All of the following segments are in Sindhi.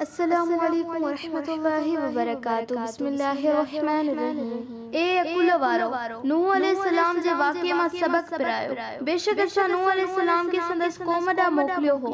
السلام عليڪم ورحمة الله وبرڪاته بسم الله الرحمن الرحيم اي عقل وارؤ! نوح عليه السلام جي واقعي مان سبق پرايو. بيشڪ اسان نوح عليه السلام کي سندس قوم ڏانهن موڪليو هو،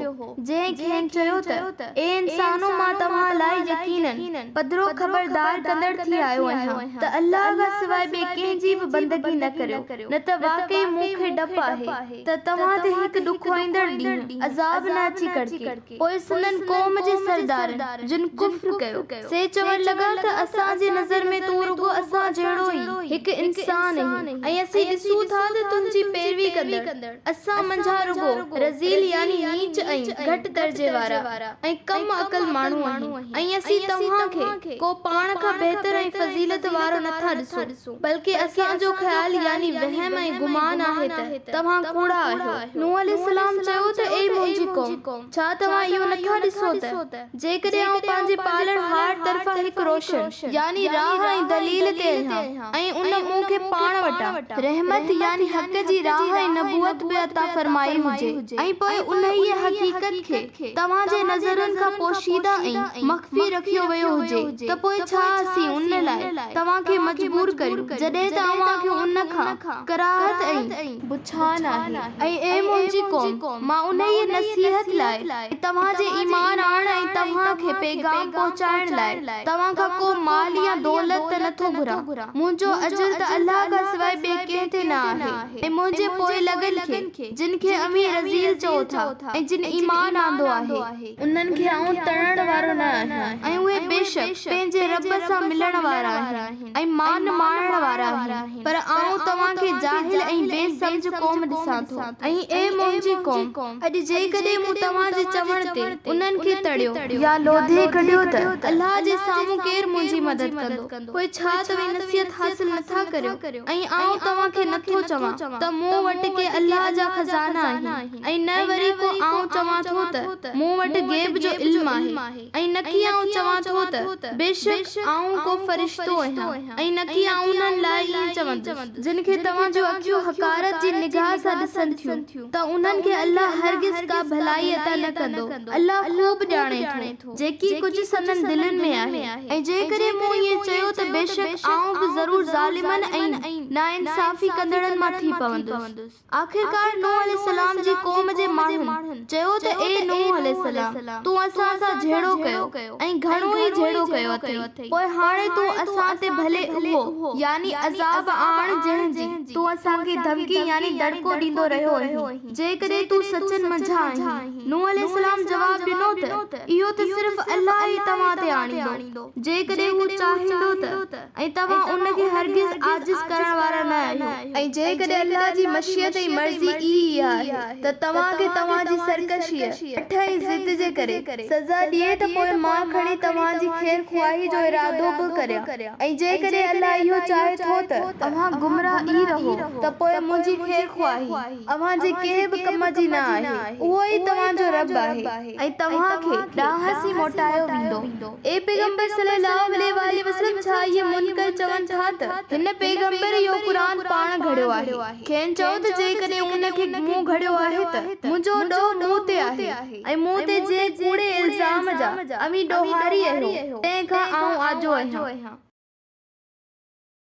جنهن کين چيو ته، اي انسانؤ! مان توهان لاء يقيناً پڌرو خبردار ڪندڙ ٿي آيو آهيان ته الله کان سواء ٻئي ڪنهن جي به بندگي نه ڪريو، نه ته واقعي مون کي ڊپ آهي. ته توهان تي هڪ ڏکوائيندڙ ڏينهن، عذاب، نه اچي ڪڙڪي. پوء سندن قوم جي سردارن، جن ڪفر ڪيو، سي چوڻ لڳا ته اسان جي نظر ۾ تون رڳو اسان جهڙو ئي هڪ انسان آهين ۽ اسين ڏسون ٿا ته تنهنجي پيروي ڪندڙ اسان منجهان رڳو رذيل يعني نيچ ۽ گهٽ درجي وارا ۽ ڪم عقل ماڻهو آهن ۽ اسين توهان کي ڪو پاڻ کان بهتر ۽ فضيلت وارو نٿا ڏسون. بلڪه اسان جو خيال يعني وهم ۽ گمان آهي ته توهان ڪوڙا آهيو. نوح عليه السلام چيو ته اي منهنجي قوم! ڇا توهان اهو نٿا ڏسو ته جيڪڏهن آئون پنهنجي پالڻهار طرفان هڪ روشن يعني راهه ۽ دليل تي آهيان ۽ ان مون کي پاڻ وٽان رحمت يعني حق جي راهه ۽ نبوت به عطا فرمائي هجي ۽ پوء انهيء حقيقت کي کي توهان جي نظرن کان پوشيده ۽ مخفي رکيو ويو هجي ته پوء ڇا اسين ان لاء توهان کي مجبور ڪريون جڏهن ته اوهان کي ان کان ڪراهت ۽ بڇان آهي ۽ اي منهنجي قوم مان انهيء نصيحت لاء ۽ توهان جي ايمان آڻڻ ۽ توهان کي پيغام پهچائڻ لاء توهان کان ڪو مال يا دولت ته نٿو گهران منهنجو اجر ته الله کان سواء ٻئي ڪنهن تي نه آهي. ۽ منهنجي پوئلڳن کي، جن کي اوهين رذيل چئو ٿا ۽ جن ايمان آندو آهي. انهن کي آئون تڙڻ وارو نه آهيان، ۽ اهي بيشڪ پنهنجي رب سان ملڻ وارا آهن ۽ مان ماڻڻ وارا آهن، پر آئون توهان کي جاهل ۽ بي سمجهه قوم ڏسان ٿو. ۽ اي منهنجي قوم! اڄ جيڪڏهن مون توهان جي چوڻ تي انهن کي تڙيو. يا لوڌي ڪڍيو ته الله جي سامهون ڪير منهنجي مدد ڪندو؟ پوء ڇا توهين نصيحت حاصل نه ٿا ڪريو؟ ۽ آئون توهان کي نه ٿو چوان ته مون وٽ ڪي الله جا خزانا آهن ۽ نه وري ڪو آئون چوان ٿو ته مون وٽ غيب جو علم آهي ۽ نڪي آئون چوان ٿو ته بيشڪ آئون ڪو فرشتو آهيان ۽ نڪي آئون انهن لاء ائين چوندس جن کي توهان جون اکيون حقارت جي نگاهه سان ڏسن ٿيون ته انهن کي الله هرگز ڪا ڀلائي عطا نه ڪندو الله خوب ڄاڻي ٿو. جيڪي ڪجهه سندن دلين ۾ آهي ۽ جيڪڏهن مون ائين چيو ته بيشڪ آئون به ضرور ظالمن ۽ ناانصافي ڪندڙن مان ٿي پوندس. آخرڪار نوح عليه السلام جي قوم جي ماڻهن چيو ته اي نوح عليه السلام! تون اسان سان جهيڙو ڪيو ۽ گهڻو ئي جهيڙو ڪيو اٿئي، پوء هاڻي تون اسان تي ڀلي اهو، يعني عذاب، آڻ جنهن جي تون اسان کي ڌمڪي يعني دڙڪو ڏيندو رهيو اهين. جيڪڏهن تون سچن منجهان آهين. نوح عليه السلام جواب ڏنو ته، اهو ته صرف الله ئي توهان تي آڻيندو، جيڪڏهن هو چاهيندو ته، ۽ توهان ان کي هرگز عاجز ڪرڻ وارا نه آهيو. ۽ جيڪڏهن الله جي مشيت ۽ مرضي ئي اها آهي ته توهان کي توهان جي سرڪشيء، اٺ ۽ ضد جي ڪري، سزا ڏئي ته پوء مان کڻي توهان جي خير خواهيء جو ارادو به ڪريان، ۽ جيڪڏهن الله اهو چاهي ٿو ته، اوهان گمراهه ئي رهو، ته پوء منهنجي خير خواهي. اوهان جي ڪنهن به ڪم جي نه آهي، اهو ئي توهان جو رب آهي ۽ توهان کي ڏانهس ئي موٽايو ويندو. اي پيغمبر صلّي اللّٰه عليه واٰله وسلّم ڇا اهي منڪر چون ٿا ته هن پيغمبر اهو قرآن پاڻ گهڙيو آهي؟ کين چئو ته جيڪڏهن ان کي مون گهڙيو آهي ته منهنجو ڏوهه مون تي آهي ۽ مون تي جنهن ڪوڙي الزام جا اوهين ڏوهاري اهيو تنهن کان آئون آجو اهيان.